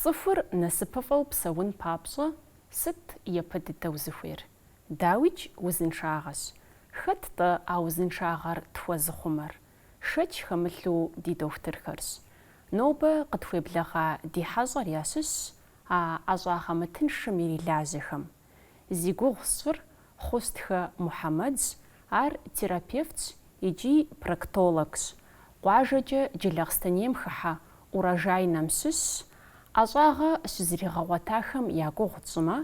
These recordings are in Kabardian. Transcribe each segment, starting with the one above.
Цӏыхур насыпыфӏэу псэун папщӏэ сыт япэ дыдэу зыхуейр? Дауикӏ узыншагъэщ. Хэт-тӏэ а узыншагъэр тхуэзыхъумэр? Шэч хэмылъу ди дохутырхэрщ. Нобэ къытхуеблэгъа ди хьэщӏэр ящыщщ а ӏэщӏагъэ мытыншым ирилажьэхэм. Зи гугъу сщӏыр Хъустхэ Мухьэмэдщ, ар терапевтщ икӏи проктологщ, къуажэкӏэ Джылахъстэнейм хыхьэ Урожайнэм щыщщ, ӏэщӏагъэ щызригъэгъуэтахэм я гугъу тщӏымэ,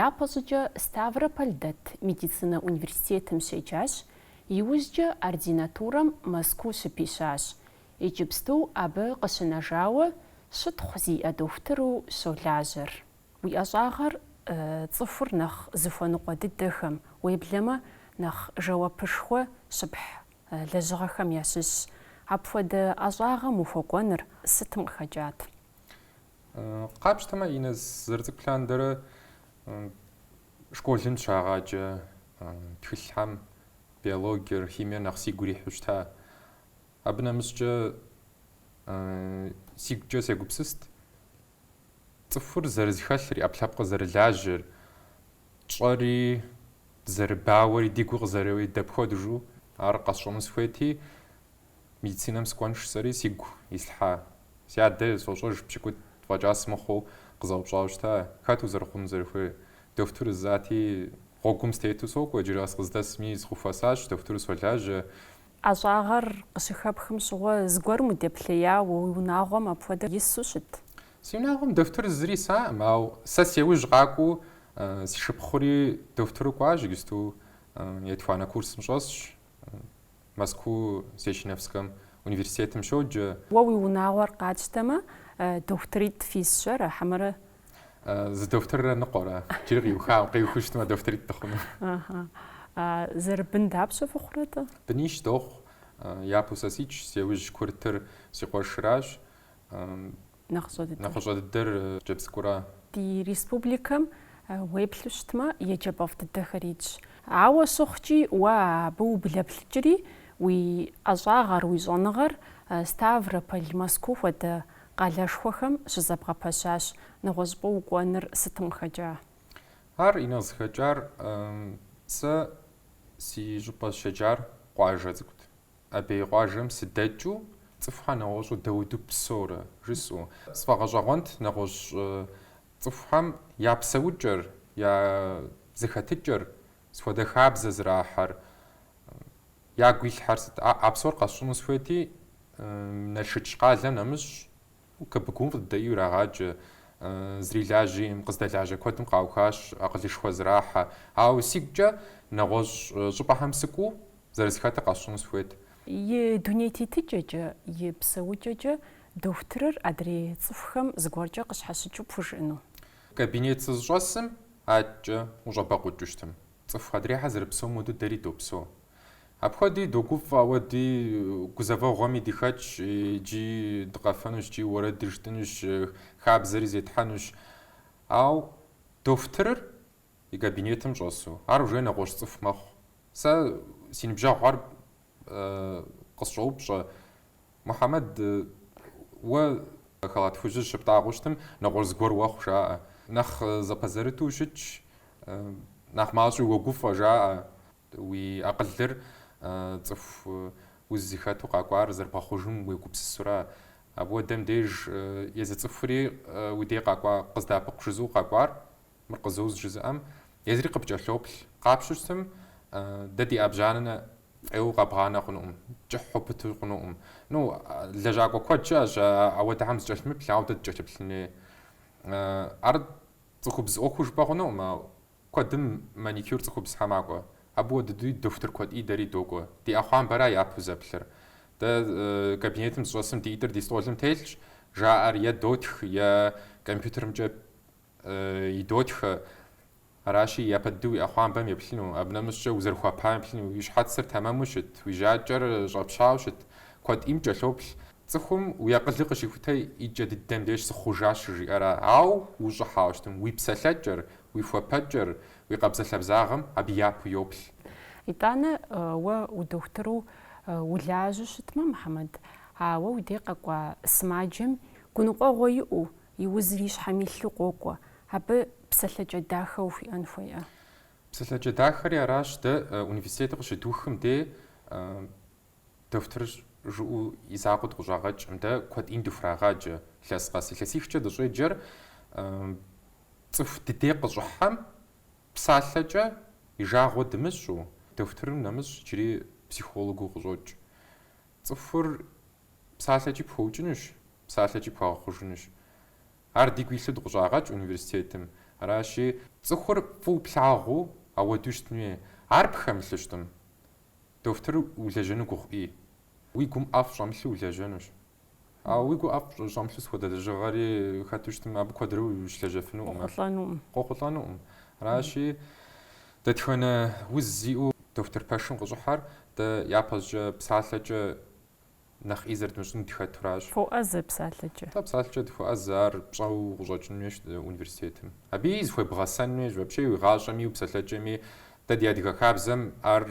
япэщӏыкӏэ Ставрополь дэт медицинэ университетым щеджащ, иужькӏэ ординатурэм Мэзкуу щыпищащ, иджыпсту абы къыщынэжауэ щытхъу зиӏэ дохутыру щолажьэр. Уи ӏэщӏагъэр цӏыхур нэхъ зыхуэныкъуэ дыдэхэм, уеблэмэ нэхъ жэуапышхуэ щыпхь лэжьыгъэхэм ящыщщ. Апхуэдэ ӏэщӏагъэм ухуэкӏуэныр сытым къыхэкӏат? Къапщтэмэ, Инэс, сызэрыцӏыкӏу лъандэрэ школым щагъаджэ тхылъхьэм биологиер, химиер нэхъ сигу ирихьу щыта. Абы нэмыщӏкӏэ сигукӏэ сегупсыст Цӏыхур зэрызэхэлъыр, и ӏэпкълъэпкъыр зэрылажьэр, тщӏэри зэрыбауэри, ди гур къызэреуэри дапхуэдэжу ар къэсщӏэну сыхуейти, медицинэм сыкӏуэн жысӏэри сигу ислъхьа. Си адэ сощӏэж пщыкӏутӏ фӏэкӏа сымыхъуу къызэупщӏауэ щыта, хэт узэрыхъуну зэрыхуейр. Дохутыр жысӏати, гъуэгум стету сокӏуэ, иджыри къэс къыздэсми сыхуэхуэсащ, дохутыру солажьэ, ӏэщӏагъэр къыщыхэпхым щыгъуэ зыгуэрым удеплъеяуэ уи унагъуэм апхуэдэ ису щыт? Си унагъуэм дохутыр зыри исаӏым, ауэ сэ си ужь къакӏуэу си шыпхъури дохутыру кӏуащ, иджысту етуанэ курсым щӏэсщ, Мэзкуу Сеченовскэм университетым щоджэ. Уэ уи унагъуэр къатщтэмэ, дохутыритӏ фисщэрэ хьэмэрэ? Зы дохутыррэ ныкъуэрэ? Джыри къиухауэ, къиухыу щытмэ, дохутыритӏ дыхъуну. Аха. Зэрыбын дапщэ фыхъурэ-тӏэ? Бынищ дохъу. Япэу сэ ситщ, си яужь курытыр си къуэшыращ. Нэхъыщӏэ дыдэр? Нэхъыщӏэ дыдэр хъыджэбз цӏыкӏура. Ди республикэм уеплъу щытмэ, еджэпӏэфӏ дыдэхэр итщ. Ауэ щыхъукӏи, уэ абы ублэплъыкӏри, уи ӏэщӏагъэр, уи щӏэныгъэр Ставрополь, Мэзкуу хуэдэ Къалэшхуэхэм щызэбгъэпэщащ нэгъуэщӏыпӏэ укӏуэныр сытым къыхэкӏа. Ар и нэхъ зыхэкӏар сэ си щӏыпӏэ сыщеджар къуажэ цӏыкӏут. Абей къуажэм сыдэкӏыу цӏыхухэр нэгъуэщӏу дэуду псэурэ жысӏэу. Сфӏэгъэщӏэгъуэнт нэгъуэщӏ цӏыхухэм я псэукӏэр, я зэхэтыкӏэр, сыт хуэдэ хабзэ зэрахьэр. Ягу илъхэр сыт? А псор къэсщӏыну сыхуейти, Налшыч къалэм нэмыщӏ КБГУ-м фӏы дыдэ ӏейуэ ирагъаджэ. Зрилажьи, къыздэлажьэ куэдым къаухащ, акъылышхуэ зэрахьэ. Ауэ сигукӏэ нэгъуэщӏ щӏыпӏэхэм сыкӏуу, зэрызэхэтыр къэсщӏыну сыхуейт. И дуней тетыкӏэкӏэ, и псэукӏэкӏэ дохутырыр адрей цӏыхухэм зыгуэркӏэ къыщхьэщыкӏыу пхужыӏэну? Кабинет сызыщӏэсым, адэкӏэ ущӏэбэкъукӏыу щытым. Цӏыху адрейхэр зэрыпсэум хуэдэу дэри допсо. Апхуэдэуи догуфӏэ, ауэ ди гузэвэгъуэми дыхэтщ, икӏи дыкъэфэнущ, икӏи уэрэди жытӏынущ, хабзэри зетхьэнущ. Ауэ дохутырыр и кабинетым щӏэсу, ар уже нэгъуэщӏ цӏыху мэхъу. Сэ си ныбжьэгъухэр къысщӏоупщӏэ. Мухьэмэд, уэ халат хужьыр щыптӏагъэу щытым, нэгъуэщӏ зыгуэр уэхъу, жаӏэ. Нэхъ зэпэзэрыту ущытщ, нэхъ мащӏэу уэгуфӏэ, жаӏэ. Уи акъылыр цӏыху уз зыхэту къакӏуар зэрыбгъэхъужым уегупсысура? Апхуэдэм деж езы цӏыхури уи дей къакӏуа къыздэӏэпыкъу жызыӏэу къакӏуар Мыр къызоуз жызыӏэм, езыри къыпкӏэлъоплъ. Къапщтэу щытым, дэ ди ӏэбжьанэ фӏейуэ къэбгъанэ хъунукъым, кӏыхьу пыту хъунукъым. Ну, лэжьакӏуэ куэд щыӏэщ апхуэдэхэм зыкӏэлъымыплъ, ауэ дэ дыкӏэлъыплъын хуей. Ар цӏыхубз ӏуэхуу жыпӏэ хъунукъым, ауэ куэдым маникюр цӏыхубзхэр макӏуэ. Абы хуэдэ дыдэуи дохутыр куэд ӏей дэри докӏуэ. Ди ӏэхъуамбэра япэу зэплъыр. Дэ кабинетым дызыщӏэсым ди ӏитӏыр ди стӏолым телъщ, жаӏэр е дотх, е компьютерымкӏэ идотхэ, аращи, япэ дыдэу уи ӏэхъуамбэм еплъыну, абы нэмыщӏкӏэ узэрыхуапам еплъыну, уи щхьэцыр тэмэму щыт, уи жьакӏэр щӏэпщауэ щыт, куэд ӏейм кӏэлъоплъ. Цӏыхум уи акъылыр къыщихутэ и кӏэ дыдэм деж сыхъужащ щыжиӏэра, ауэ ущӏыхьауэ щытым, уи псэлъэкӏэр, уи хуэпэкӏэр, уи къабзэ-лъабзагъэм абы япэу йоплъ. Итӏанэ уэ удохутыру улажьэу щытмэ, Мухьэмэд, ауэ уи деж къэкӏуа сымаджэм гуныкъуэгъуэ иӏэу, И узыр и щхьэм илъу къокӏуэ. Абы псэлъэкӏэ дахэ ухуиӏэн хуейӏэ? Псэлъэкӏэ дахэри аращ, дэ университетыр къыщыдухым дей дохутыр жыӏэу и закъуэ дыкъыщӏагъэкӏым. Дэ куэд ӏейм дыхурагъаджэ илъэс къэс. Илъэсихкӏэ дыщӏеджэр цӏыху ди дей къыщӏыхьэм псалъэкӏэ и жагъуэ дымыщӏу, дохутырым нэмыщӏ иджыри психологыу къыщӏокӏ. Цӏыхур Псалъэкӏи пхуэукӏынущ, псалъэкӏи пхуэгъэхъужынущ. Ар дигу илъу дыкъыщӏагъэкӏ университетым. Аращи. Цӏыхур фӏыуэ плъагъуу ауэдэу щытын хуей. Ар пхэмылъу щытым. Дохутыр улэжьэну гугъуи. Уи гум ӏэфӏ щӏэмылъу улэжьэнущ. Ауэ уи гум ӏэфӏ щӏэмылъу сыт хуэдэ лэжьыгъэри хэту щытым, абы куэдрэ ущылэжьэфынукъым. Къохъулӏэнукъым. Къохъулӏэнукъым. Аращи, дэтхэнэ уз зиӏэу дохутыр пэшым къыщӏыхьэр, дэ япэщӏыкӏэ псалъэкӏэ нэхъ ӏей зэрыдмыщӏын дхэтуращ. Фоӏэзэ псалъэкӏэ. Атӏэ псалъэкӏэ дыхуэӏэзэ, ар пщӏэу къыщӏэкӏын хуейщ университетым. Абыи зыхуебгъэсэн хуейщ, вообще уи гъащӏэми, уи псалъэкӏэми. Дэ ди адыгэ хабзэм ар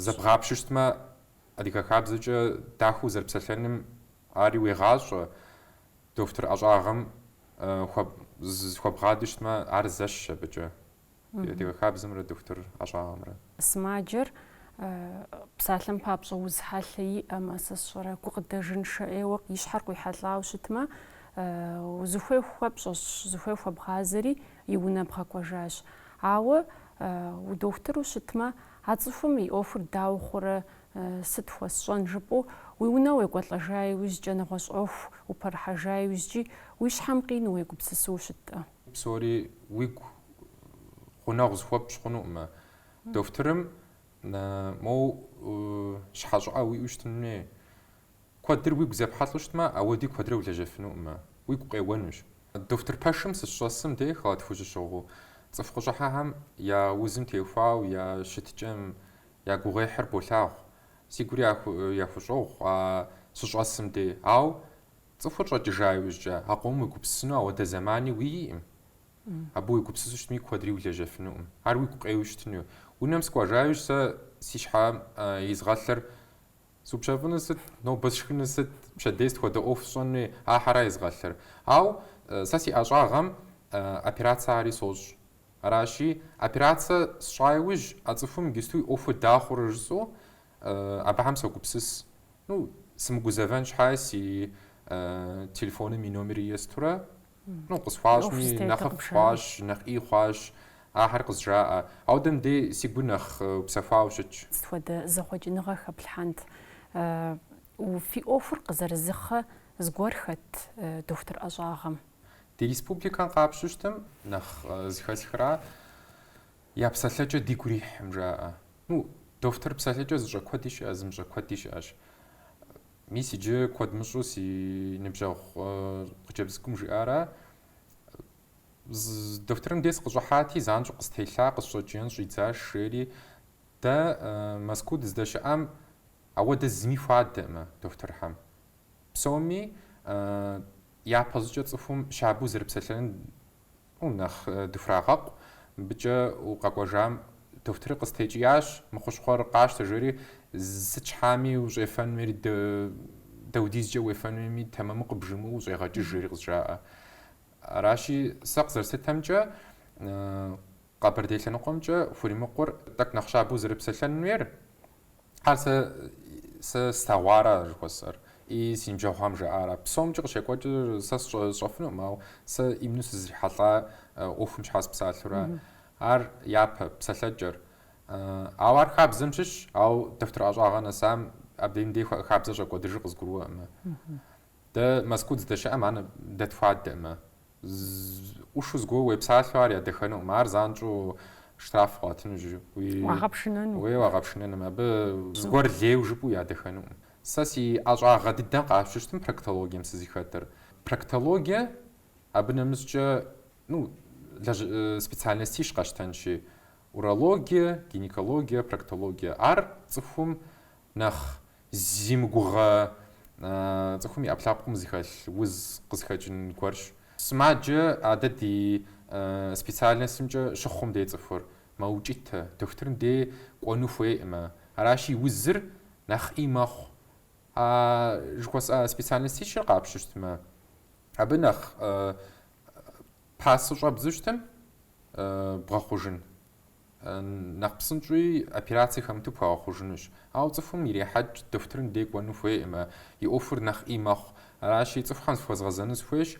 зэбгъапщэу щытмэ, адыгэ хабзэкӏэ дахэу узэрыпсэлъэным ари уегъащӏэ, дохутыр ӏэщӏагъэм хуэбгъадэу щытмэ, ар зэщхьщ абыкӏэ. ди адыгэ хабзэмрэ дохутыр ӏэщӏагъэмрэ. Сымаджэр псалъэм папщӏэ уз хьэлъэ иӏэмэ, сэ сщӏэрэ, гукъыдэжыншэ ӏейуэ и щхьэр къуихьэлӏауэ щытмэ, узыхуей хуэпщӏэщ, зыхуей хуэбгъазэри и унэ бгъэкӏуэжащ. Ауэ удохутыру щытмэ, а цӏыхум и ӏуэхур дауэ хъурэ, сыт хуэсщӏэн жыпӏэу, уи унэ уекӏуэлӏэжа иужькӏэ, нэгъуэщӏ ӏуэху упэрыхьэжа иужькӏи, уи щхьэм къинэу уегупсысыу щыттӏэ. Псори уигу гъунэгъу зыхуэпщӏ хъунукъымэ. Дохутырым моу щхьэ щӏыӏэ уиӏэу щытын хуей. Куэдыр уигу зепхьэлӏу щытмэ, ауэди куэдрэ улэжьэфынукъымэ, уигу къеуэнущ. Дохутыр пэшым сыщӏэсым деж халат хужь сщыгъыу цӏыху къыщӏыхьэхэм я узым теухуауэ я щытыкӏэм я гугъуехьыр болъагъу. Си гур яхущӏогъу а сыщӏэсым дей, ауэ Цӏыхур щӏэкӏыжа иужькӏэ, а къомым уегупсысыну ауэдэ зэмани уиӏэкъым. Абы уегупсысу щытми, куэдри улэжьэфынукъым. Ар уигу къеуэу щытыну. Унэм сыкӏуэжа иужь сэ си щхьэм изгъэлъыр, Супщэфӏынур сыт? Нобэ сшхынур сыт? Пщэдей сыт хуэдэ ӏуэху сщӏэнуи? Ахьэра изгъэлъыр. Ауэ сэ си ӏэщӏагъэм операцэ ари сощӏ. Аращи, операцэ сщӏа иужь, а цӏыхум иджысту и ӏуэхур дауэ хъурэ жысӏэу, Абыхэм согупсыс. Ну, сымыгузэвэн щхьа си телефоным и номери естурэ, ну, къысхуащӏми, нэхъыфӏ хъуащ, нэхъ ӏей хъуащ, ахэр къызжаӏэ. Ауэдэм дей си гур нэхъ упсэхуауэ щытщ. Сыт хуэдэ зэхъуэкӏыныгъэ хэплъхьэнт? Фи ӏуэхур къызэрызыхъэ зыгуэр хэт дохутыр ӏэщӏагъэм? Ди республикэм къапщтэу щытым нэхъ зыхэсхыра? Я псэлъэкӏэ дигу ирихьым жаӏэ. Ну, дохутыр псэлъэкӏэ зыщӏэ куэди щыӏэ, зымыщӏэ куэди щыӏэщ. Мис иджы куэд мыщӏу си ныбжьэгъу хъыджэбз цӏыкӏум жиӏара, дохутырым дей сыкъыщӏыхьати, занщӏэу къыстелъа, къысщӏэкӏиен щӏидзаш, жери. Дэ Мэзкуу дыздэщыӏам ауэдэ зыми хуадэӏымэ дохутырхэм. Псоми япэщӏыкӏэ цӏыхум щабэу зэрыпсэлъэныр О, нэхъ дыхурагъэкъу, мыбыкӏэ укъэкӏуэжам дохутырыр къыстекӏиящ, мы хущхъуэр къащтэ, жери, сыт щхьэми ущӏефэнуми, даудизкӏэ уефэнуми тэмэму къыбжымыӏэу ущӏегъэкӏыж, жери къызжаӏэ. Аращи, сэ къызэрыслъытэмкӏэ, Къэбэрдей лъэныкъуэмкӏэ хуримыкъур тӏэкӏу нэхъ щабэу зэрыпсэлъэнуер, Ар сэ, сэ слъэгъуара жыхуэсӏэр, и си ныбжьэгъухэм жаӏара. Псомкӏи къыщекӏуэкӏыр сэ сщӏэфынукъым, ауэ сэ именно сызрихьэлӏа ӏуэхум щхьэ сыпсалъэу ара, ар япэ, псэлъэкӏэр. Ауэ ар хабзэм щыщщ, ауэ дохутыр ӏэщӏагъэ нэсам, абдеж мыбдей хабзэр щӏэкӏуэдыжыр къызгурыӏуэкъымэ. Дэ Мэзкуу дыздэщыӏэм ар дэ тхуадэӏымэ, ӏушу зыгуэр уепсалъэу ар ядэхэнукъым, ар занщӏэу штраф къуатыну, уагъэпшынэну, абы зыгуэр лейу жыпӏэу ядэхэнукъым. Сэ си ӏэщӏагъэ дыдэм къасщтэу щытмэ проктологием сызыхэтыр. Проктологие, абы нэмыщӏкӏэ, ну, лэжь, специальностищ къэщтэнщи, урологие, гинекологие, проктологие, ар цӏыхум Нэхъ зимыгугъэ цӏыхум и ӏэпкълъэпкъым зыхэлъ уз къызыхэкӏын гуэрщ. Сымаджэ а дэ ди специальностымкӏэ щыхъум дей цӏыхур мэукӏытэ, дохутырым дей кӏуэну хуейӏымэ. Аращи, и узыр нэхъ ӏий мэхъу. А жыхуэсӏа специальностищыр къапщтэу щытмэ, абы нэхъ пасэу щӏэбдзэу щытмэ бгъэхъужын. Нэхъ псынщӏи, операцэ хэмыту пхуэгъэхъужынущ. Ауэ цӏыхум ирехьэкӏ дохутырым дей кӏуэну хуейӏымэ, и ӏуэхур нэхъ ӏий мэхъу. Аращи, цӏыхухэм зыхуэзгъэзэну сыхуейщ.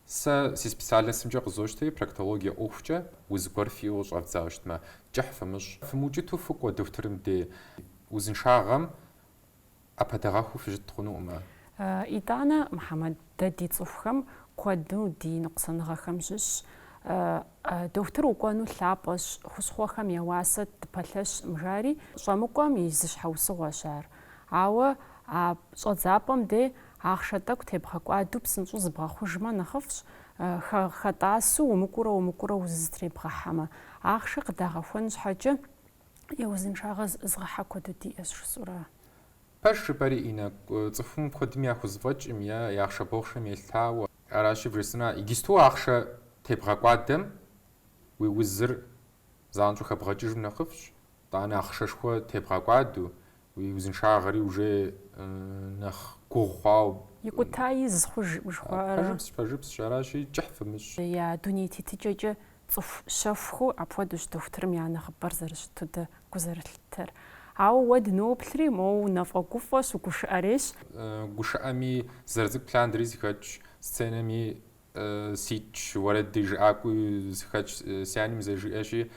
Сэ си специальностымкӏэ къызощтэри, проктологие ӏуэхукӏэ, уз гуэр фиӏэу щӏэвдзауэ щытмэ, кӏыхь фымыщӏ. Фымыукӏыту фыкӏуэ дохутырым дей. Узыншагъэм ӏэпэдэгъэхыу фыщыт хъунукъым ар. Итӏанэ, Мухьэмэд, дэ ди цӏыхухэм куэду ди ныкъусаныгъэхэм щыщщ. Дохутыр укӏуэну лъапӏэщ, хущхъуэхэм я уасэм дыпэлъэщкъым жари, щӏэмыкӏуэм и зы щхьэусыгъуэщ ар. Ауэ а щӏэдзапӏэм де ахъшэ тӏэкӏу тебгъэкӏуадэу псынщӏэу зыбгъэхъужмэ нэхъыфӏщ, хэтӏасу умыкӏуурэ-умыкӏуурэ уз зэтребгъэхьэмэ. Ахъшэ къыдагъэхуэн щхьэкӏэ. Е узыншагъэ зыӏызгъэхьэ куэду диӏэщ жысӏэурэ? Пэжщ жыпӏэри иныкъуэ цӏыхум куэдым яхузэфӏэкӏкъым е я ахъшэ бохъшэм елъытауэ. Аращи, бжесӏэна, иджысту ахъшэ тебгъэкӏуадэм уи узыр занщӏэу хэбгъэкӏыжым нэхъыфӏщ, тӏанэ ахъшэшхуэ тебгъэкӏуадэу, Уи узыншагъэри уже нэхъ гугъу хъуауэ. Икӏута из хъуж жыхуаӏэрэ? Пэжыпс, пэжыпсщ, аращи, кӏыхь фымыщӏ. Я дуней тетыкӏэкӏэ цӏыху щэхухэу апхуэдэущ дохутырым я нэхъыбэр зэрыщыту дэ гу зэрылъыттэр. Ауэ уэ дыноплъри, моуэ унэфӏэгуфӏэщ, угушыӏэрейщ. Гушыӏэми, зэрыцӏыкӏу лъандэри сыхэтщ, сценэми Ситщ, уэрэджыӏакӏуи сыхэтщ, си анэм зэжиӏэщи,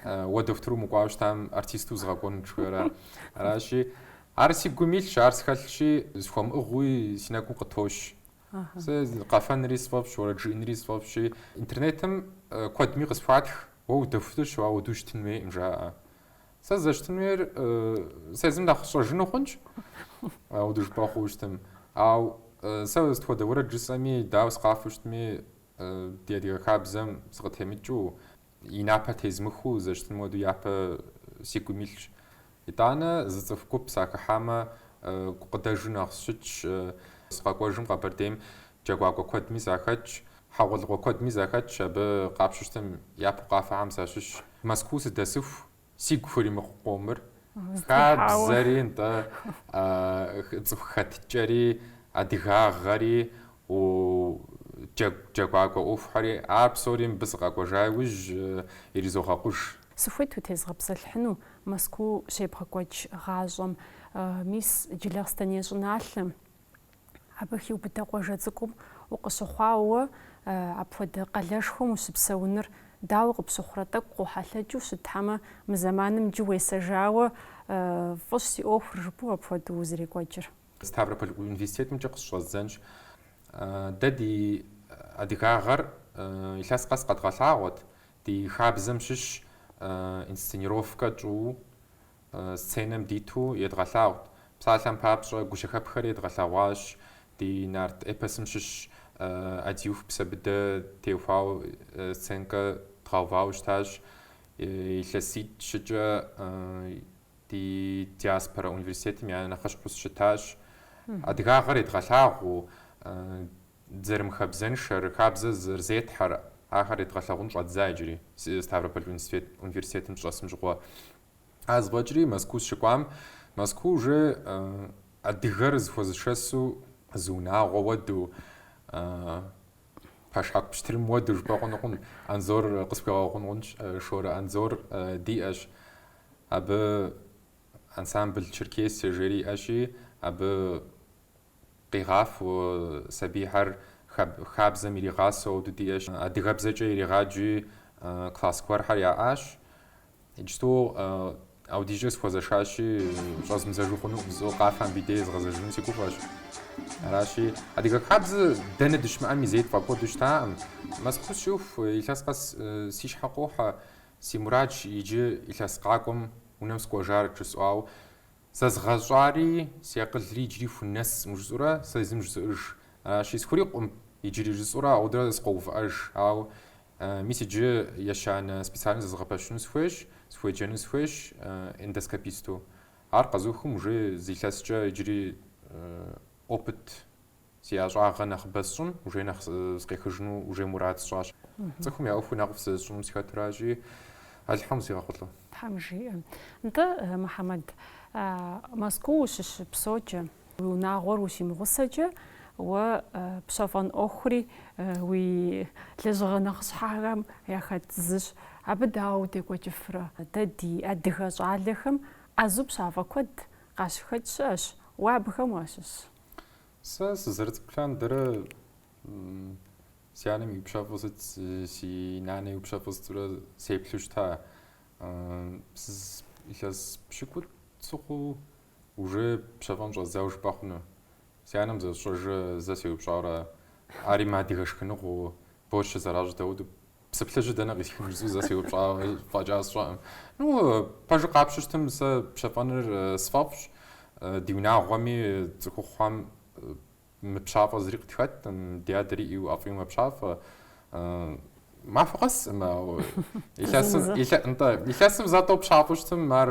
уэ дохутыру умыкӏуауэ щытам, артисту узгъэкӏуэнут жыхуиӏэра. Аращи, ар си гум илъщ, ар схэлъщи, схуэмыӏыгъуи си нэгум къытощ. Сэ къэфэнри сфӏэфӏщ, уэрэд жыӏэнри сфӏэфӏщи, интернетым куэдми къысхуатх, уэ удохутырщ, апхуэдэу ущытын хуейкъым, жаӏэ. Сэ зэщытын хуейр сэ езым нэхъ сщӏэжыну хъунщ. Апхуэдэу жыпӏэ хъуу щытым. Ау сэ сыт хуэдэ уэрэд жысӏэми, дауэ сыкъафэу щытми, ди адыгэ хабзэм сыкъытемыкӏыу, и напэр тезмыхыу зэщытыным хуэдэу япэ си гум илъщ. Итӏанэ зы цӏыху гуп сахыхьамэ, гукъыдэжу нэхъ сщытщ. Сыкъэкӏуэжым Къэбэрдейм джэгуакӏуэ куэдми сахэтщ. Хьэгъуэлӏыгъуэ куэдми сахэтщ абы къапщыщтым япэу къафэхэм сащыщщ. Мэзкуу сыдэсыху сигу хуримыкъу къомыр, хабзэри, нтӏэ, цӏыху хэтыкӏэри, адыгагъэри, джэгу джэгуакӏуэ ӏуэхухэри, ар псори мыбы сыкъэкӏуэжа иужь иризогъэкъуж. Сыхуейт утезгъэпсэлъыхьыну Мэзкуу щебгъэкӏуэкӏ гъащӏэм, мис Джылахъстэней щӏыналъэм, Абы хиубыдэ къуажэ цӏыкӏум укъыщыхъуауэ уэ апхуэдэ къалэшхуэм ущыпсэуныр дауэ къыпщыхъурэ? Тӏэкӏу къохьэлъэкӏыу щыт, хьэмэ, мы зэманым иджы уесэжауэ фӏыщ си ӏуэхур, жыпӏэу апхуэдэу зэрекӏуэкӏыр. Ставрополь университетымкӏэ къыщыщӏэздзэнщ. Дэ ди адыгагъэр илъэс къэс къэдгъэлъагъуэт, ди хабзэм щыщ инсценировкэ тщӏыуэ Сценэм диту едгъэлъагъут. Псалъэм папщӏэ, гущэхэпхэр едгъэлъэгъуащ ди нарт эпосым щыщ ӏэдииху, Псэбыдэ теухуауэ сценкэ дгъэувауэ щытащ. Илъэситӏ-щыкӏэ ди диаспорэ университетым я нэхъыщхьэу сыщытащ. Адыгагъэр едгъэлъагъуу, дызэрымыхабзэншэр, хабзэ зэрызетхьэр, ахэр едгъэлъэгъун щӏэддза иджыри, Ставрополь университетым сщӏэсым щыгъуэ. А зэфӏэкӏри Мэзкуу сыщыкӏуам, Мэзкуу уже адыгэр зыхуэзышэсу зы унагъуэ уэду, пэшхьэку пщтырым уэду жыпӏэ хъунукъым. Анзор къысхуигъэгъун хъунщ, Шорэ Анзор диӏэщ. Абы ансамбл Черкесия жери иӏэщи, абы Къигъафу сабийхэр хабзэм иригъасэу диӏэщ. Адыгэбзэкӏэ иригъаджи класс гуэрхэр яӏащ. Иджыпсту аудизкӏэ сыхуэзэшащи, щӏэзмыдзэжу хъунукъым, зо къафэм и дей згъэзэжыну си гуфӏэщ. Аращи, адыгэ хабзэ дэнэ дыщымыӏэми зэи тфӏэкӏуэду щытаӏым. Мэзкуу сыщыӏэху, илъэс къэс си щхьэ къохьэ, си мурадщ иджы илъэс къакӏуэм унэм сыкӏуэжар жысӏу, ауэ. Зэзгъэщӏари, си акъылри иджыри хунэсым, жысӏэурэ сэ езым зжызоӏэж. Ащи сыхурикъукъым, иджыри жысӏэурэ аудэрэ зызогъэувыӏэж. Ауэ мис иджы ещанэ специальнэ зэзыгъэпэщыну сыхуейщ, сыхуеджэну сыхуейщ эндоскописту. Ар къэзухым уже зы илъэскӏэ иджыри опыт Си ӏэщӏагъэ нэхъыбэ сщӏым, уже нэхъ сыкъехыжыну уже мурад сщӏащ. Цӏыхум я ӏуэхуи нэхъыфӏ зэрысщӏыным сыхэту аращи, Алыхьым къызигъэхъулӏэ. Тхьэм жиӏэ. Нтӏэ, Мухьэмэд, Мэзкуу ущыщыпсэукӏэ, уи унагъуэр ущимыгъусэкӏэ, уэ пщэфӏэн ӏуэхури уи лэжьыгъэ нэхъыщхьэхэм яхэт зыщ. Абы дауэ удекӏуэкӏыфрэ? Дэ ди адыгэ щӏалэхэм ӏэзу пщафӏэ куэд къащыхэкӏ щыӏэщ, уэ абыхэм уащыщ. Сэ сызэрыцӏыкӏу лъандэрэ си анэм иупщэфӏу сыт, си нанэ иупщэфӏу сытурэ сеплъу щыта. Илъэс пщыкӏут сыхъуу уже пщэфӏэн щӏэздзауэ жыпӏэ хъуну. Си анэм зэсщӏэжэ зэ сеупщӏауэ ара, ари мыадыгэ шхыныгъуу, борщыр зэращӏ дауду Псы плъыжьыр дэнэ къисхын жысӏэу зэ сеупщӏа фӏэкӏа сщӏэкъым. Ну, пэжу къапщтэу щытым, сэ пщэфӏэныр сфӏэфӏщ. Ди унагъуэми цӏыхухъуэм мыпщафӏэ зыри къытхэтӏым, ди адэри ӏейуэ ӏэфӏийуэ мэпщафӏэ. Махуэ къэсӏым, ауэ илъэсым, илъэ, нтӏэ, илъэсым зэ-тӏэу пщафӏэу щытым, ар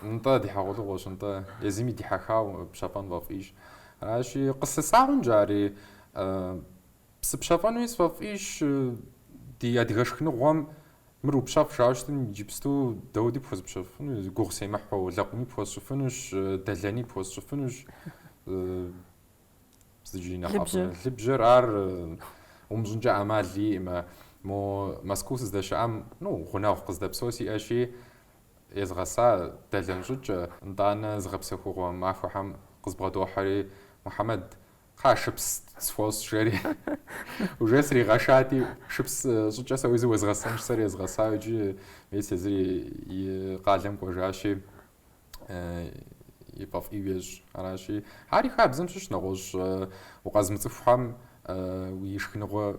нтӏэ ди хьэгъуэлӏыгъуэщ, нтӏэ, езыми дихьэхауэ пщэфӏэн фӏэфӏийщ. Аращи, къыслъысагъэнщ ари. Сыпщэфӏэнуи сфӏэфӏищ ди адыгэ шхыныгъуэм мыр упщэфӏ жаӏэу щытым, иджыпсту дауди пхуэзупщэфӏыфыну, гугъу семыхьу, лэкъуми пхуэсщӏыфынущ, дэлэни пхуэсщӏыфынущ. Джэдлыбжьэр ар умыщӏынкӏэ ӏэмал иӏэӏым, мо Мэзкуу сыздэщыӏам, ну, гъунэгъу къыздэпсэу сиӏэщи, езгъэса дэлэн щӏыкӏэ, нтӏанэ зыгъэпсэхугъуэ махуэхэм къызбгъэдохьэри, Мухьэмэд, Кхъа, шыпс схуэщӏ, жери. Уже сригъэшати, шыпс щӏыкӏэ сэ уи зы уезгъэсэнщ, сэр езгъэсауэ иджы мес езыр и къалэм кӏуэжащи, и фӏэфӏ ӏейуи ещӏ. Аращи, ари хабзэм щыщ, нэгъуэщӏ укъэзмыцӏыхухьэм уи шхыныгъуэ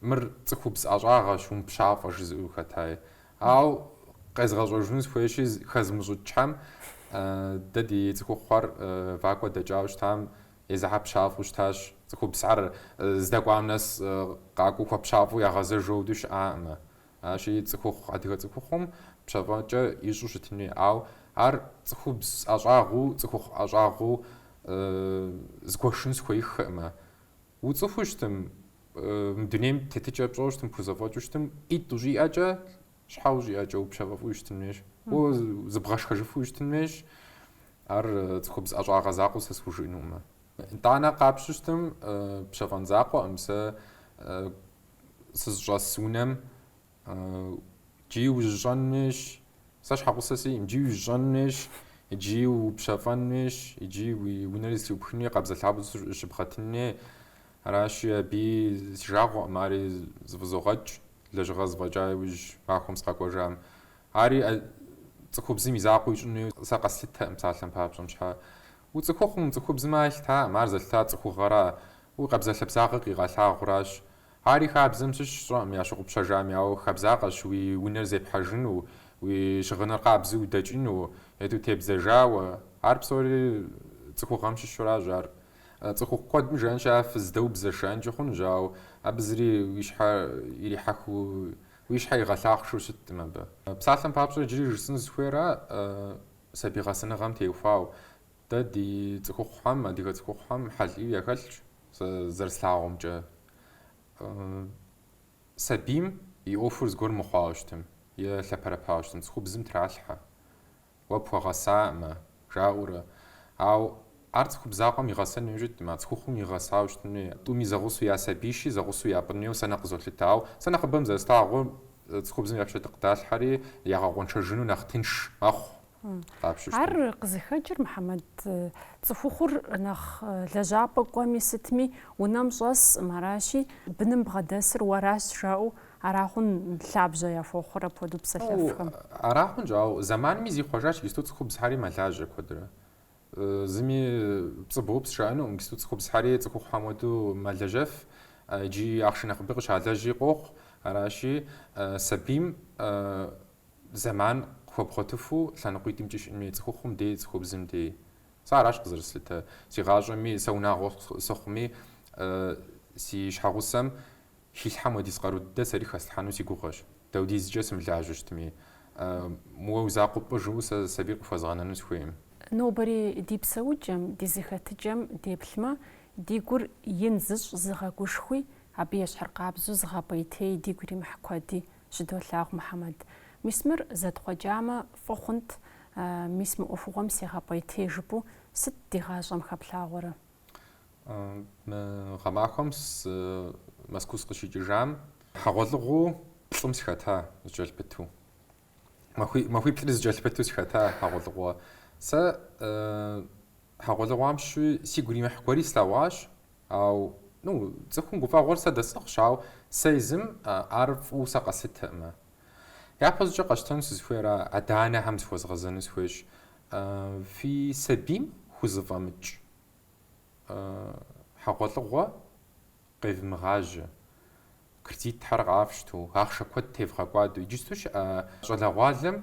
Мыр цӏыхубз ӏэщӏагъэщ, умыпщафӏэ жызыӏэу хэтаи. Ауэ къезгъэщӏэжыну сыхуейщи, хэзмыщӏыкӏхьэм, дэ ди цӏыхухъухэр вакӏуэ дэкӏауэ щытам езыхьэ пщафӏэу щытащ. Цӏыхубзхэр здэкӏуам нэс къакӏуэу хуэпщафӏэу ягъэзэжу хуэдэу щыӏакъымэ. Аращи, цӏыхухъу, адыгэ цӏыхухъум пщафӏэкӏэ ищӏу щытын хуей. Ауэ ар цӏыхубз ӏэщӏагъэу, цӏыхухъу ӏэщӏагъэу згуэшын сыхуеиххэкъымэ. Уцӏыхуу щытым, мы дунейм тетыкӏэ пщӏэу щытым, пхузэфӏэкӏыу щытым, ӏитӏ ущӏиӏэкӏэ, щхьэ ущӏиӏэкӏэ упщэфӏэфуи щытын хуейщ, уэ зыбгъэшхэжыфуи щытын хуейщ, ар цӏыхубз ӏэщӏагъэ закъуэу сэ схужыӏэнукъымэ. Итӏанэ къапщтэу щытым, пщэфӏэн закъуэкъым сэ сызыщӏэс унэм Икӏи ужьыщӏэн хуейщ. Сэ щхьэгъусэ сиӏэкъым. Икӏи ужьыщӏэн хуейщ, икӏи упщэфӏэн хуейщ, икӏи уи унэри зэлъыӏупхын хуей, къабзэлъабзэу щыбгъэтын хуей. Аращи, абы си жагъуэкъым, ари зэфӏызогъэкӏ, лэжьыгъэр зэфӏэкӏа иужь махуэм сыкъэкӏуэжам. Ари цӏыхубзым и закъуэ ищӏын хуейуэ сэ къэслъытэкъым, псалъэм папщӏэ, мыщхьэ. Уцӏыхухъум, цӏыхубзым ар елъытакъым, ар зэлъытар цӏыхугъэращ, уи къабзэлъэбзагъэр къигъэлъагъуращ. Ари хабзэм щыщщ, сщӏэкъым ящыгъупщэжами, ауэ хабзакъэщ уи унэр зепхьэжыну, уи щыгъыныр къабзэу удэкӏыну, ету тебдзэжауэ. Ар псори цӏыхугъэм щыщуращ. Ар цӏыхухъу куэдым жаӏэнщи, ар фыздэубзэщ жаӏэнкӏи хъунущ, ауэ абы зыри уи щхьэр ирихьэхыу, уи щхьэр игъэлъахъшэу щыткъым абы. Псалъэм папщӏэ, иджыри жысӏэну сызыхуейр ара сабий гъэсэныгъэм теухуауэ? Дэ ди цӏыхухъухэм, адыгэ цӏыхухъухэм хьэл ӏейуэ яхэлъщ, сэ зэрыслъагъумкӏэ. Сабийм и ӏуэхур зыгуэр мыхъуауэ щытым е лъэпэрэпауэ щытым, цӏыхубзым тралъхьэ. Уэ пхуэгъэсаӏымэ, жаӏэурэ. Ауэ ар цӏыхубз закъуэм игъэсэн хуей щыткъым, а цӏыхухъум игъэсауэ щытын хуей. Тӏуми зэгъусэу я сабийщи, зэгъусэу япӏын хуейуэ сэ нэхъ къызолъытэ. Ауэ сэ нэхъыбэм зэрыслъагъур, цӏыхубзым и пщэ къыдалъхьэри, ягъэкъуэншэжыну нэхъ тынш мэхъу. къапщтэу щытым. Ар къызыхэкӏыр Мыхьэмэд цӏыхухъур нэхъ лэжьапӏэ кӏуэми сытми унэм щӏэсӏым, аращи, быным бгъэдэсыр уэращ жаӏэу ара хъун лъабжьэ яхуохъур апхуэдэу псэлъэфхэм? Ара хъунщ, ауэ зэманми зихъуэжащ иджысту цӏыхубзхьэри мэлажьэ куэдрэ. Зыми пцӏы боупс жаӏэнукъым, иджысту цӏыхубзхьэри цӏыхухъухьэм хуэдэу мэлэжьэф икӏи ахъшэ нэхъыби къыщалэжьи къохъу, аращи, сабийм зэман къыхуэбгъуэтыфу лъэныкъуитӏымкӏи щыӏэн хуейщ, цӏыхухъум дей, цӏыхубзым дей. Сэ аращ къызэрыслъытэ си гъащӏэми, сэ унагъуэ сыхъуми, си щхьэгъусэм хилъхьэм уэдиз къару дыдэ сэри хэслъхьэну си гугъэщ. Даудизкӏэ сымылажьэу щытми, мыуэ уи закъуэ пӏы жысӏэу сэ сабий къыхуэзгъэнэну сыхуейкъым. Нобэри ди псэукӏэм, ди зэхэтыкӏэм деплъмэ, ди гур ин зыщӏ зыгъэгушхуи, абы ещхьыркъабзэу зыгъэпӏейтей дигу иримыхь куэди щыдолъагъу Мухьэмэд. Мис мыр зэтхъуэкӏамэ, фӏы хъунт, мис мы ӏуэхугъуэм сегъэпӏейтей жыпӏэу сыт ди гъащӏэм хэплъагъуэрэ? Мы гъэмахуэм Мэзкуу сыкъыщикӏыжам, хьэгъуэлӏыгъуэу плӏым сыхэта зыкӏэлъыпыту. Махуи плӏри зыкӏэлъыпыту сыхэта хьэгъуэлӏыгъуэ. Сэ Хьэгъуэлӏыгъуэм щыщу сигу иримыхь гуэри слъэгъуащ, ауэ, ну, цӏыхум гуфӏэгъуэр сэ дэсӏыгъщ, ауэ сэ езым ар фӏыуэ сэ къэслъытэкъым. Япэщӏыкӏэ къэщтэну сызыхуейращ, адэ-анэхэм зыхуэзгъэзэну сыхуейщ, фи сабийм хузэфӏэмыкӏ хьэгъуэлӏыгъуэ къевмыгъажьэ. Кредитхэр къафщту, ахъшэ куэд тевгъэкӏуадэу, иджысту щыӏэ щӏалэгъуалэм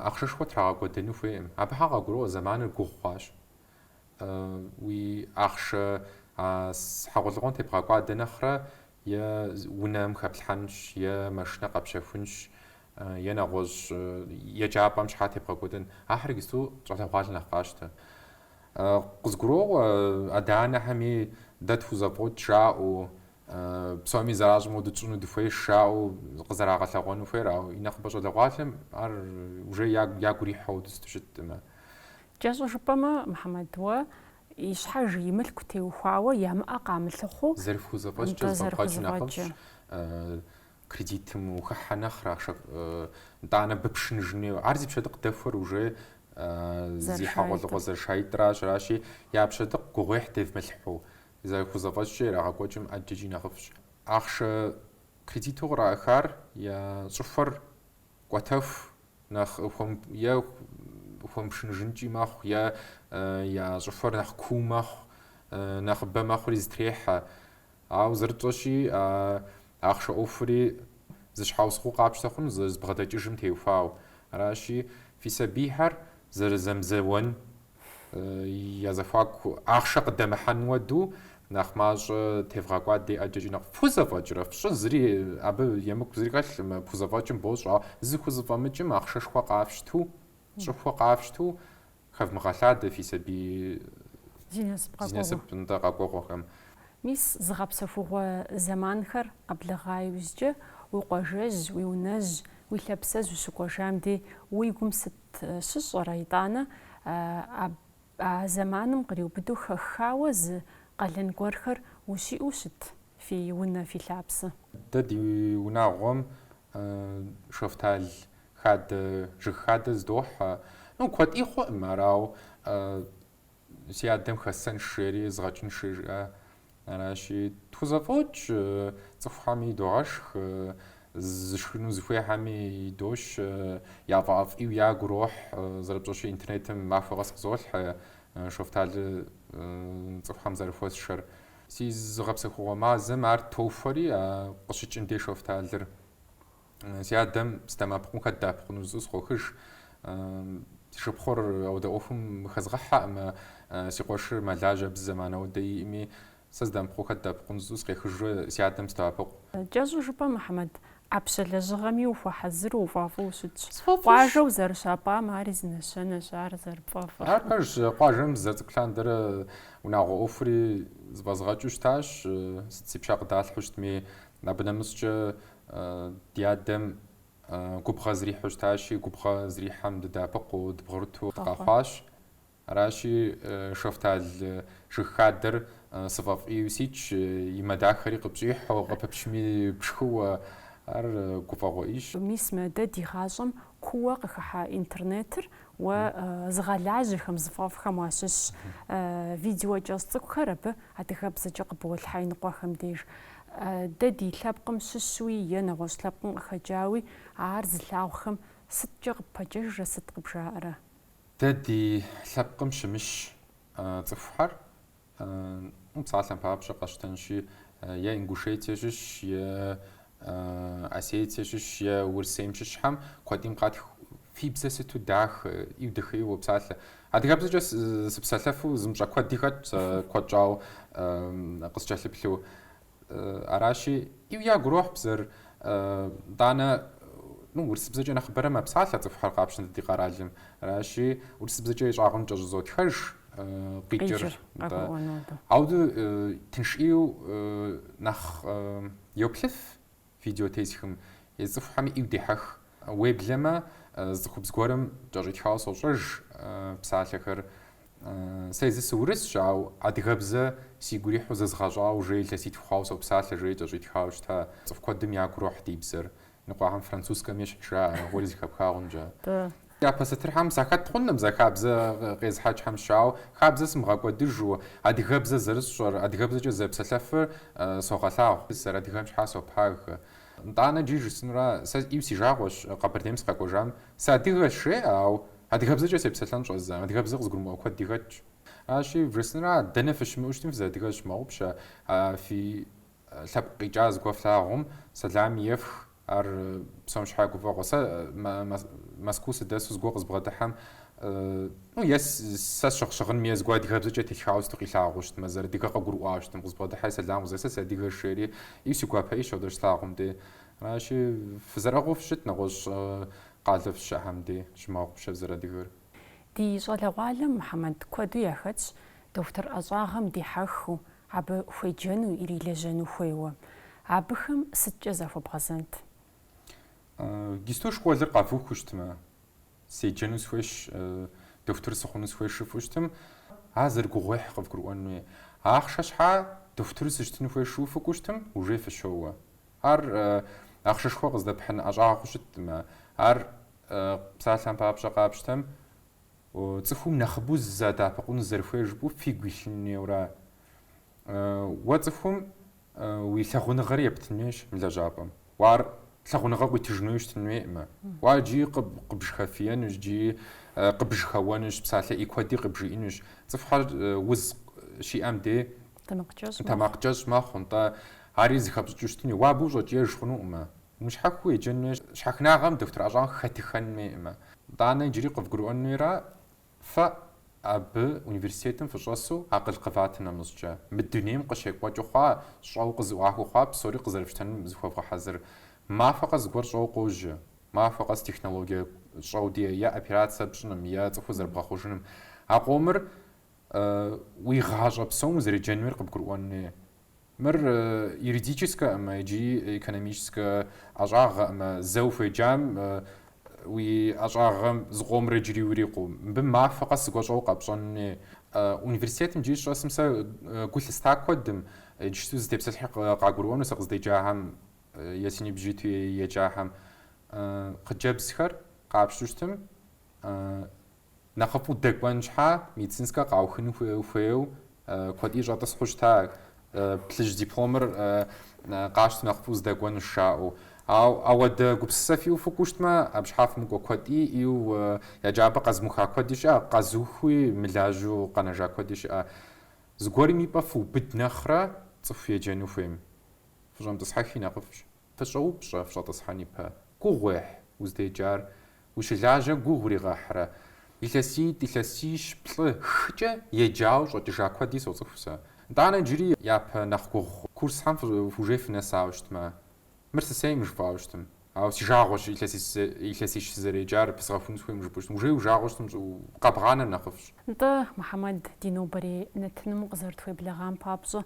ахъшэшхуэ трагъэкӏуэдэну хуейкъым. Абыхэм къагурыӏуэ зэманыр гугъу хъуащ. Уи ахъшэ а хьэгъуэлӏыгъуэм тебгъэкӏуадэ нэхърэ е унэм хэплъхьэнщ, е машинэ къэпщэхунщ, е нэгъуэщӏ еджапӏэм щхьэкӏэ тебгъэкӏуэдэнщ. Ахэр иджысту щӏалэгъуалэр нэхъ къащтэ. Къызгуроӏуэ адэ-анэхэми, дэ тхузэфӏокӏ жаӏэу, Псоми зэращӏым хуэдэу тщӏыну дыхуейщ жаӏэу къызэрагъэлъэгъуэну хуейр, ауэ и нэхъыбэ щӏалэгъуалэм ар уже ягу ирихьэу иджыпсту щыткъым. Кӏэщӏу жыпӏэмэ, Мухьэмэд, уэ и щхьэж и мылъку теухуауэ ямыӏэ къамылъыхъуу, зэрыпхузэфӏэкӏкӏэ зэфӏэбгъэкӏыу нэхъыфӏщ, кредитым ухыхьэ нэхърэ, ахъшэ, нтӏанэ ппшыныжын хуейуэ. Ар зи пщэ дыдэ дэхуэр уже зи хьэгъуэлӏыгъуэ зэрыша итӏращ, аращи, я пщэ гугъуехь девмылъхьу, Зэрыхузэфӏэкӏкӏэ ирагъэкӏуэкӏмэ ӏэджэкӏи нэхъыфӏщ. Ахъшэ кредиту къраӏыхар я щӏыхуэр кӏуэтэху нэхъ е хуэмыпшыныжынкӏи мэхъу, е я щӏыхуэр нэхъ куу мэхъу, нэхъыбэ мэхъури зытрехьэ. Ауэ зэрытщӏэщи, а ахъшэ ӏуэхури зы щхьэусыгъуэу къапщтэ хъунущ зэрызбгъэдэкӏыжым теухуауэ. Аращи, фи сабийхэр зэрызэмызэуэн Я зэхуаку ахъшэ къыдэмыхьэн хуэду нэхъ мащӏэ тевгъэкӏуадэ ӏэджэкӏи нэхъ пхузэфӏэкӏрэ? Фщӏы, зыри абы емыкӏу зыри хэлъӏым, пхузэфӏэкӏым бощӏэ, ауэ зыхузэфӏэмыкӏым ахъшэшхуэ къафщту, щӏыхуэ къафщту хэвмыгъэлъадэ фи сабий Зи насып зи къэкӏуэгъуэ. насып, нтӏэ, къэкӏуэгъуэхэм. Мис зыгъэпсэхугъуэ зэманхэр къэблэгъа иужькӏэ, уи къуажэжь, уи унэжь, уи лъапсэжь ущыкӏуэжам дей уи гум сыт щыщӏэрэ, итӏанэ, а зэманым къриубыдэу хэххауэ зы къалэн гуэрхэр ущиӏэу щыт фи унэ, фи лъапсэ? Дэ ди унагъуэм шэфтал хадэ, жыг хадэ зыдохьэ. Ну, куэдӏи хъуӏым, арау си адэм хэссэнщ жери, згъэкӏынщ жери жиӏа. Аращи, тхузэфӏокӏ, цӏыхухьэми идогъэшх, зышхыну зыхуейхьэми идощ, яфӏэӏэфӏ ӏейуэ ягу ирохь, зэрыпщӏэщи интернетым махуэ къэс къызолъхьэ, шофталыр цӏыхухьэм зэрыхуэсшэр. Си зыгъэпсэхугъуэ мазэм ар тохуэри, къыщыкӏын дей Шофталыр. Си адэм сыдэмыӏэпыкъум хэт дэӏэпыкъуну жысӏэу сыкъохыж. Си шыпхъур ауэдэ ӏуэхум мыхэзгъэхьэкъымэ, си къуэшыр мэлажьэ абы зы зэман ауэдэ иӏэӏыми, сэ сыдэмыӏэпыкъуу хэт дэӏэпыкъуну жысӏэу сыкъехыжурэ си адэм сыдоӏэпыкъу. Кӏэщӏу жыпӏэм, Мухьэмэд, ӏэпщэ лэжьыгъэми ухуэхьэзыру, уфӏэфӏу ущытщ. Сфӏэфӏыщ. Къуажэм узэрыщапӏам ари зы нэщэнэщ, ар зэрыпфӏэфӏыр. Ар пэжщ, къуажэм сызэрыцӏыкӏу лъандэрэ унагъуэ ӏуэхури зэфӏэзгъэкӏыу щытащ. Сыт си пщэ къыдалъхьэу щытми, абы нэмыщӏкӏэ Ди адэм губгъуэ зрихьу щытащи, губгъуэ зрихьэм дыдэӏэпыкъуу, дыбгъурыту дыкъэхъуащ. Аращи, шэфтал жыг хадэр сфӏэфӏ ӏейуэ ситщ, и мэ дахэри къыпщӏихьу, къыпыпчми пшхыуэ, ар гуфӏэгъуэ ӏейщ. Мис мы дэ ди гъащӏэм кууэ къыхыхьа интернетыр Уэ зыгъэлажьэхэм, зыфӏэфӏхэм уащыщщ. Видео кӏэщӏ цӏыкӏухэр абы адыгэбзэкӏэ къыболъхьэ иныкъуэхэм деж. Дэ ди лъэпкъым щыщуи е нэгъуэщӏ лъэпкъым къыхэкӏауи ар зылъагъухэм сыткӏэ къыппэкӏуэжрэ сыт къыбжаӏэрэ? Дэ ди лъэпкъым щымыщ цӏыхухэр Ну, псалъэм папщӏэ къэтщтэнщи, е Ингушетие щыщ, е Осетие щыщ, е Урысейм щыщхьэм куэдим къатх фи бзэ сыту дахэ, ӏейуэ дахэуи уопсалъэ. Адыгэбзэкӏэ сыпсэлъэфу зымыщӏэ куэди хэтт, сэ куэд щӏауэ къыскӏэлъыплъу. Аращи, ӏейуэ ягу ирохь бзэр. Итӏанэ урысыбзэкӏэ нэхъыбэрэ мэпсалъэ цӏыхухэр къапщтэмэ ди къэралым. Аращи, урысыбзэкӏэ и щӏагъымкӏэ щӏызотхэж къикӏыр. Ауэ тынш ӏейуэ нэхъ йоплъыф Видео тесхым цӏыхухэм ӏейу дехьэх. Уеблэмэ, цӏыхубз гуэрым кӏэщӏитхауэ сощӏэж псалъэхэр. Сэ езыр сыурысщ, ау адыгэбзэ сигу ирихьу зэзгъэщӏауэ жей илъэситху хъуауэ сопсалъэ, жери кӏэщӏитхауэ щыта. Цӏыху куэдым ягу рохь ди бзэр ныкъуэхэм французскэм ещхь жаӏэ, ар уэри зэхэпха хъункӏэ. Япэ сатырхэм сахэт хъуным зи хабзэ къезыхьэкӏхэм щыщаӏэу, хабзэ сымыгъэкӏуэдыжу, адыгэбзэ зэрысщӏэр, адыгэбзэкӏэ зэпсэлъэфыр согъэлъагъу. Сызэрадыгэм щхьа сопагэ. Итӏанэ джы жысӏэнура, сэ ӏейу си жагъуэщ Къэбэрдейм сыкъэкӏуэжам. Сыадыгэщ жеӏэ, ау адыгэбзэкӏэ сепсэлъэн щӏэздзэм, адыгэбзэ къызыгурымыӏуэ куэд тхэтщ. Аращи, жысӏэнура, дэнэ фыщымыӏэу щытми фызэадыгэр фщымыгъупщэ, фи лъэпкъ къикӏа зыгуэр флъагъум, сэлам ефх. Ар псом щхьа гуфӏэгъуэ. Сэ Мэскуу сыдэсу зыгуэр къызбгъэдыхьэм, ну, е сэ сщыгъ щыгъынми, е зыгуэр адыгэбзэкӏэ телъхьауэ сыту къилъагъуу щытмэ, сызэрадыгэр къыгурыӏуауэ щытым, къызбгъэдыхьэри сэлам къызех, сэ сыадыгэщ жери, ӏейу си гуапэщ апхуэдэ щыслъагъум дей. Аращи, фызэрыӏыгъыу фыщыт, нэгъуэщӏ къалэ фыщыӏэм дей, фщымыгъупщэ фызэрадыгэр. Ди щӏалэгъуалэм Мухьэмэд куэду яхэтщ дохутыр ӏэщӏагъэм дихьэххэу, Абы хуеджэну ирилэжьэну хуейуэ абыхэм сыткӏэ захуэбгъэзэнт? Иджыпсту школыр къэвухыу щытмэ, седжэну схуейщ, дохутыр сыхъуну схуейщ жыфӏэу щытым, ар зэрыгугъуехь къывгурыӏуэн хуей. Ахъшэ щхьа дохутыр сыщытыну хуейщ жыфӏэу фыкӏуэу щытым, уже фыщоуэ. Ар ахъшэшхуэ къыздэпхьын ӏэщӏагъэу щытӏымэ, ар псалъэм папщӏэ къапщтэм, Цӏыхум нэхъыбэу сызэадэӏэпыкъуну зэрыхуейр жыпӏэу фигу илъын хуейуэра? Уэ цӏыхум уи лъагъуныгъэри ептын хуейщ мы лэжьапӏэм. Уэ ар лъагъуныгъэ къуитыжын хуейуэ щытын хуейкъымэ. Уэ ар иджыри къыбжьэхэфиенущ, иджыри къыбжьэхэуэнущ, псалъэ ӏей куэди къыбжиӏэнущ. Цӏыхухэр уз щиӏэм дей тэмакъкӏэщӏ мэхъу, нтӏэ, ари зыхэпщӏыкӏыу щытын хуейщ. Уэ абы ущӏэкӏиеж хъунукъымэ. Мыщхьэхыу еджэнуе щхьэхынагъэм дохутыр ӏэщӏагъэ хэтыххэнуеӏымэ, итӏанэ иджыри къывгурыӏуэнуера, фэ абы университетым фыщӏэсу акъыл къыватым нэмыщӏкӏэ, мы дунейм къыщекӏуэкӏыу хъуа, щӏэуэ къызэӏуахыу хъуа псори къызэрыфщтэнум зыхуэвгъэхьэзыр. Махуэ къэс зыгуэр щӏэуэ къожьэ. Махуэ къэс технологие щӏэу диӏэ е операцэ пщӏыным, е цӏыхур зэрыбгъэхъужыным. А къомыр уи гъащӏэ псом узэреджэнуер къыбгурыӏуэнуе. Мыр юридическэӏымэ икӏи экономическэ ӏэщӏагъэӏымэ, зэ ухуеджам уи ӏэщӏагъэм зыкъомрэ джыри урикъуу. Мыбы махуэ къэс зыгуэ щӏэу къэпщӏэнуей. Университетым джыри сыщӏэсым сэ гу лъыста куэдым, иджыпсту сызытепсэлъыхьыр къагурыӏуэну сэ къыздеджахэм е си ныбжь иту еджахэм. Хъыджэбзхэр къапщту щытым, Нэхъыфӏу дэкӏуэн щхьа, медицинскэ къаухыну хуейуэ куэди щӏэтӏысхьэу щыта ар, плъыжь дипломыр къащтэу нэхъыфӏу сыдэкӏуэнущ жаӏэу. Ауэ ауэдэ гупсысэ фиӏэу фыкӏуэу щытмэ, абы щхьа фымыкӏуэ куэди, и еджапӏэ къэзымыуха куэди щыӏэ, къэзыухыуи мылажьэу къэнэжа куэди щыӏэ. Зыгуэрым и пӏэ фыубыд нэхърэ цӏыху еджэну хуейм фыщӏэмытӏысхьэхи нэхъыфӏщ. Фыщӏэупщӏэ, фыщӏэтӏысхьэн ипэ. Гугъу уехь, уздеджар ущылажьэ гугъу уригъэхьрэ? Илъэситӏ, илъэсищ, плӏы, хыкӏэ еджауэ щӏэкӏыжа куэди соцӏыху сэ. Нтӏанэ иджыри япэ нэхъ гугъу хъу. Курсхэм уже фынэсауэ щытмэ. Мыр сысейм жыпӏауэ щытым. Ауэ си жагъуэщ илъэсищ сызэреджар пызгъэхуну сыхуейм жыпӏэу щытым. Уже уи жагъуэ щытым щӏыӏэу къэбгъанэр нэхъыфӏщ. Нтӏэ, Мухьэмэд, ди нобэрей нэтыным укъызэрытхуеблэгъам папщӏэ,